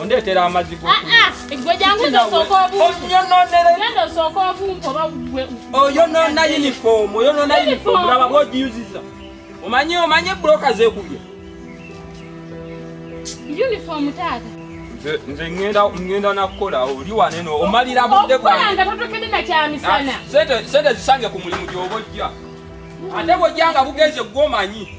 ondeetera amazzi ah, ah, oyonoona uniform oyonoona uniform laba bwogiyuziza omanyi omanyi ebuloka zekubye uniform taata nze ngenda nakukola oli waneno omalira budde bwangesente zisange ku mulimu gyoba ojja ate bwojja nga bugenze gwomanyi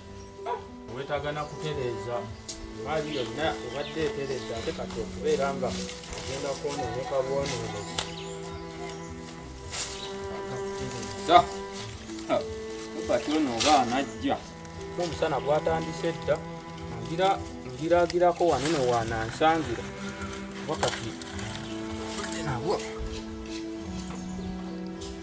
wetaaga na kutereeza maali yonna obadde etereeza ate kati okubeera nga ogenda kwonooneka bwonooneki akakutereeza kati ono oba anajja omusana gwatandise dda ngira ngiragirako wanene wanansangira wakati nabwo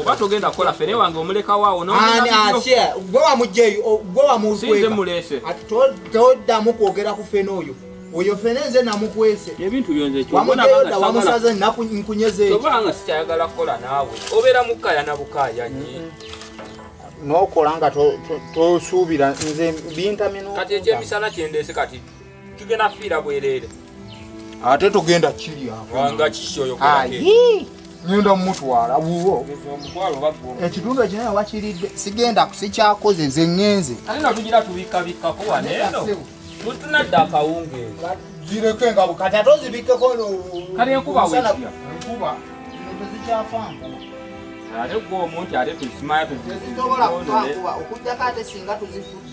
oba togenda kukola fene wange omulekawo awo gwe wamugyeyo gwe wamukwekatoddamu kwogera ku fene oyo oyo fene nze namukwese ebintu byonzewamugeyoda wamusaze nkunyezeobanga sikyayagala kukola naawe obeera mukaya na bukaya nyi nokola nga tosuubira nze bintamye kati ekyemisana kyendeese kati tugenda fiira bwerere ate tugenda kirya wanga kishoyo ayi ngenda mutwala wuwo ekitundu ekinaye wakiridde sigenda sikyakoze nze ngenze tunadda akawungeezi zireke nga bukati ate ozibikkeko kale enkuba enkuba tezikyafanga ate gwe omuntu ate tusimaya tuzitobola kuba okujjako ate singa tuzifudde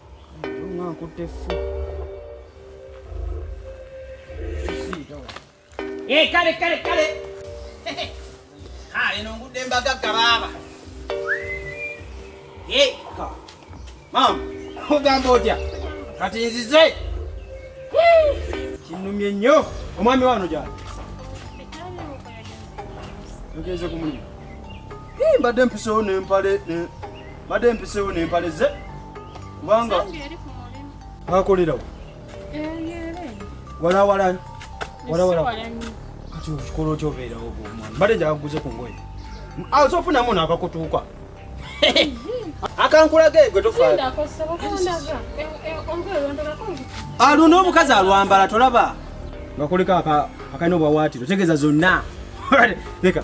Eh, kale kale kale ah, eno ngudde mbagagga baaba eh, maama ogamba otya kati nzize kinumye nnyo omwami wano gyali ogenze kumunyuma mbadde mpisewo nempale mbadde mpiseewo n'empale ze kubanga akolerawo walawala walawala kati okikola otya obeerawo omwana mbadde njaga kuguze ku ngoye aze ah, ofunamu naakakutuuka akankulaga egwe tofaana ah, luno omukazi alwambala tolaba nga kuliko akalina obwawaatiro tegeeza zonna leka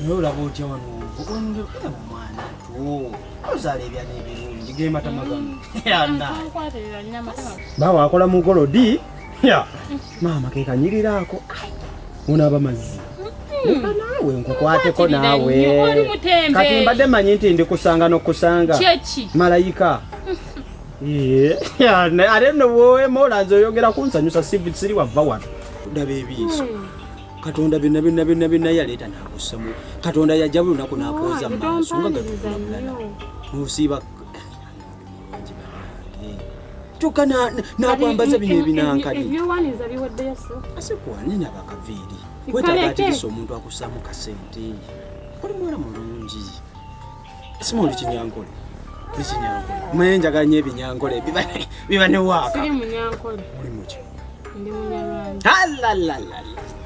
naye olaba otya wano omwana ozaala ebyana ebirungi gematama gano baawe akola mu golodi maama kekanyiriraako unaaba mazzi naawe nkukwateko naawe kati mbadde manyi nti ndikusanga nokusanga malayika ate nowoema olanze oyogera kunsanyusa siri wava wano ndaba ebiiso hmm. katonda byonna byonna byonna byonna yaleeta nakussamu katonda yajja buli lunaku nakwoza mu maaso nga gatuulala musiiba kyokka nakwambaza bino ebinankali asikwane nabakaviiri wetaaga ategesa omuntu akussamu kasente oli mwana mulungi Simuli kinyankole. Kinyankole. Mwe njagala nyo ebinyankole biba biba ne waka. Siri munyankole. Muli muki? Ndi munyarwanda. Halalala.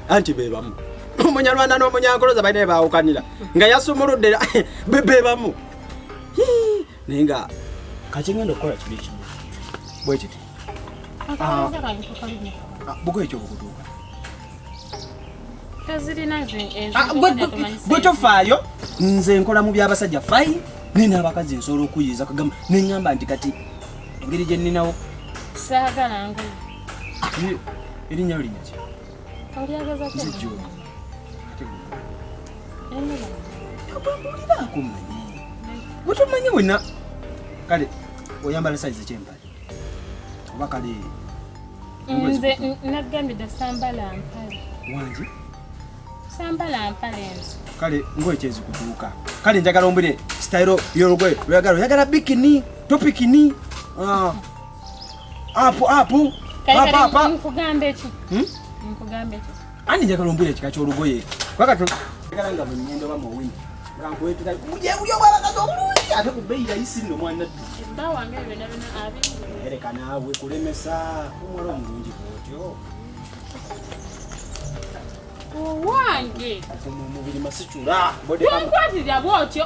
Anti bebamu. Omunyarwanda n'omunyankole zabaina ebawukanira nga yasumuludde bebamu. Naye nga kati ngenda okukola kibi kimu bwe kiti ah. ah, buko ekyo bukutuuka Ah, gwe tofaayo nze nkola mu byabasajja fayi naye n'abakazi nsobola okuyiiza kagamba neŋŋamba nti kati engeri gye nninawo saagala ngoye ah, erinnya linya ki olyagezakbuliraako manyi gwe tomanyi wena kale oyambala sayizi kyempala oba kale nze nagambye dda sambala mpale wangi sambala mpale nze kale ngoye kyezikutuuka kale njagala ombwire sitayiro yolugoye lweyagala oyagala bikini topikini ah. apu apu nkugamba eki hmm? nkugamba eki Ani njagala ombwira ekika ky'olugoye kubanga njagala nga bwennyenda oba muwini nga nkwetera ujeuyo bwabakazi obulungi ate ku bbeyi yayisi nno mwana ddu bba wange byona byona abireka naawe kulemesa omuwala omulungi bwotyo owange omubiri masicula bwonkwatira bwotyo